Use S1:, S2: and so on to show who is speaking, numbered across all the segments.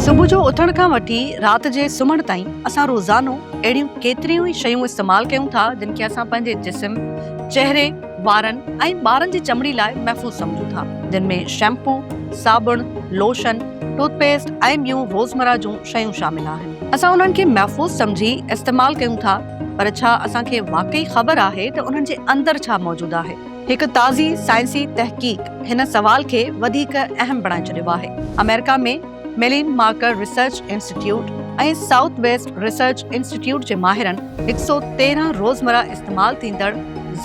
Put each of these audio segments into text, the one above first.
S1: صبح جو اٿڻ کان وٺي رات جي سمهڻ تائين اسان روزانو اهڙيون ڪيتريون ئي شيون استعمال ڪيون ٿا جن کي اسان پنهنجي جسم، چهري، وارن ۽ ٻارن جي چمڙي لاء محفوظ سمجهون ٿا جن ۾ شيمپو، صابڻ، لوشن، ٽوٿ پيسٽ ۽ ٻيون روزمره جون شيون شامل آهن. اسان انهن کي محفوظ سمجهي استعمال ڪيون ٿا پر ڇا اسان کي واقعي خبر آهي ته انهن جي اندر ڇا موجود آهي؟ هڪ تازي سائنسي تحقيق هن سوال کي وڌيڪ اهم بڻائي ڇڏيو آهي. آمريڪا ۾ ميلين مارڪر research institute ۽ south west research institute جي ماهرن هڪ سؤ تيرهن روزمره استعمال ٿيندڙ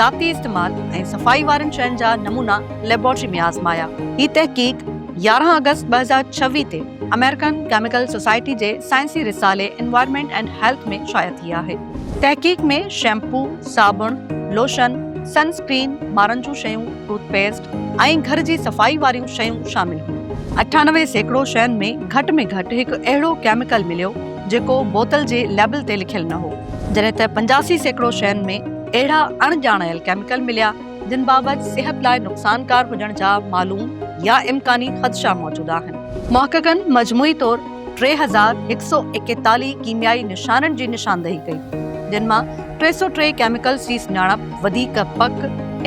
S1: ذاتي استعمال ۽ صفائي وارين شين جا نمونا ليبارٽري ۾ آزمايا. هي تحقيق يارهن آگسٽ ٻه هزار ڇويهه تي امريڪن ڪيميڪل سوسائٽي جي سائنسي رسالي انوائرمينٽ اينڊ هيلٿ ۾ شايع ٿي آهي. تحقيق ۾ شيمپو، صابڻ، لوشن، سن اسڪرين، ٻارن جون شيون، ٽوٿ پيسٽ ۽ گهر جي صفائي واريون شيون شامل هيون. اٺانوي سيڪڙو شين ۾ گهٽ ۾ گهٽ هڪ اهڙو ڪيميڪل مليو جيڪو بوتل جي ليبل تي لکيل نه هو، جڏهن ته پنجاسي سيڪڙو شين ۾ اهڙا اڻ ڄاڻايل ڪيميڪل مليا جن بابت صحت لاء نقصانڪار هجڻ جا معلوم يا امڪاني خدشا موجود آهن. محققن مجموعي طور ٽي هزار هڪ سؤ ايڪيتاليهه ڪيميائي نشانن جي نشاندهي ڪئي، جن مان ٽي سؤ ٽي ڪيميڪلز جي سڃاڻپ وڌيڪ پڪ،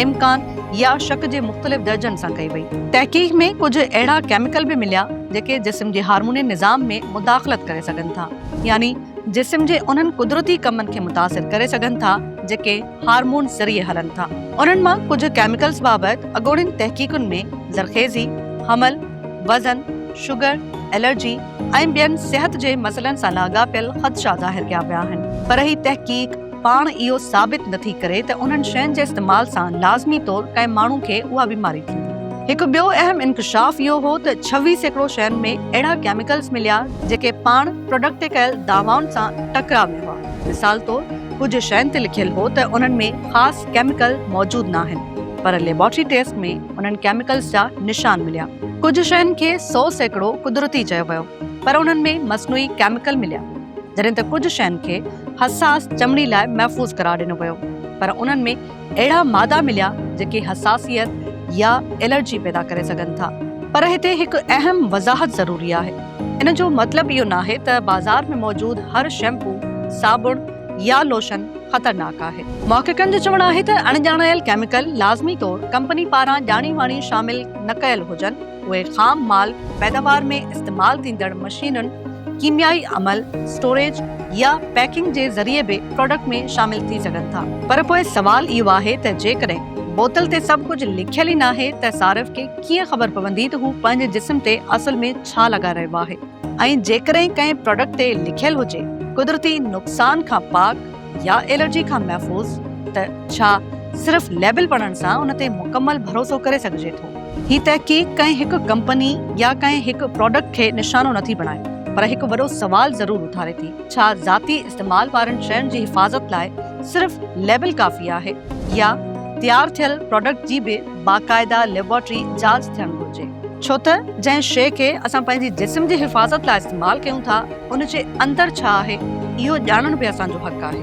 S1: امڪان يا شڪ جي مختلف درجن سان ڪئي وئي. تحقيق ۾ ڪجهه اهڙا ڪيميڪل به مليا جيڪي جسم جي هارموني نظام ۾ مداخلت ڪري سگهن ٿا يعني جسم جي انهن قدرتي ڪمن کي متاثر ڪري سگهن ٿا جيڪي هارمونز ذريعي هلن ٿا. انهن مان ڪجهه ڪيميڪلز بابت اڳوڻين تحقيقن ۾ زرخيزي، حمل، وزن، شگر، الرجي ۽ ٻين صحت جي مسئلن سان لاڳاپيل خدشا ظاهر ڪيا ويا آهن. پر هي تحقيق پاڻ اهو ثابت نٿي ڪري ته انهن شين جي استعمال سان لازمي طور ڪنهن ماڻهو کي اها بيماري ٿيندي. هڪ ٻيو اهم انڪشاف اهو هو ته ڇويهه سيڪڙو شين ۾ اهڙا ڪيميڪلز مليا جيڪي پاڻ پراڊڪٽ تي ڪيل دعوائن سان ٽڪراء ۾ هئا. مثال طور ڪجهه شين تي لکيل هو ته انهن ۾ خاص ڪيميڪل موجود ناهن پر ليبارٽري ٽيسٽ ۾ انهن ڪيميڪلز جا نشان مليا. ڪجهه شين کي سؤ سيڪڙو قدرتي چيو ويو پر انهن ۾ مصنوعي ڪيميڪل مليا جڏهن ته ڪجهه شين کي حساس چمڙي لاء محفوظ قرار ڏنو ويو پر انهن ۾ اهڙا مادا مليا جيڪي حساسيت يا الرجي پيدا ڪري سگهن ٿا. پر هتي هڪ اهم وضاحت ضروري آهي. ان جو مطلب اهو ناهي ته بازار ۾ موجود هر شيمپو، صابڻ يا لوشن خطرناڪ آهي. محققن جو چوڻ آهي ته اڻڄاڻايل ڪيميڪل لازمي طور ڪمپني پاران ڄاڻي واڻي شامل نه ڪيل هجن. اهي خام مال پيداوار ۾ استعمال ٿيندڙ مشينن، ڪيميائي عمل، اسٽوريج يا پيڪنگ جي ذريعي به پراڊڪٽ ۾ شامل ٿي سگهن ٿا. پر پوء سوال اهو آهي ته جيڪڏهن بوتل تي سڀ ڪجهه لکيل ئي ناهي ته صارف کي ڪيئن خبر پوندي ته هو پنهنجي جسم تي اصل ۾ ڇا لڳائي رهيو آهي ۽ جيڪڏهن ڪنهن پراڊڪٽ تي لکيل هجي قدرتي نقصان کان پاڪ، يا الرجي کان محفوظ ته ڇا صرف ليبل پڙهڻ سان ان تي مڪمل ڀروسو ڪري سگهجي ٿو؟ هي تحقيق ڪنهن هڪ ڪمپني يا ڪنهن هڪ پراڊڪٽ کي نشانو نٿي بڻائي پر هڪ وڏو سوال ضرور اٿاري ٿي، ڇا ذاتي استعمال وارين شين جي حفاظت لاء صرف ليبل ڪافي آهي يا تيار ٿيل پراڊڪٽ جي به باقاعده ليبارٽري جاچ ٿيڻ گهرجي ڇو ته جنهن شيء کي اسان پنهنجي جسم جي حفاظت لاء استعمال ڪيون ٿا ان جي اندر ڇا آهي اهو ڄاڻڻ به اسان جو حق آهي.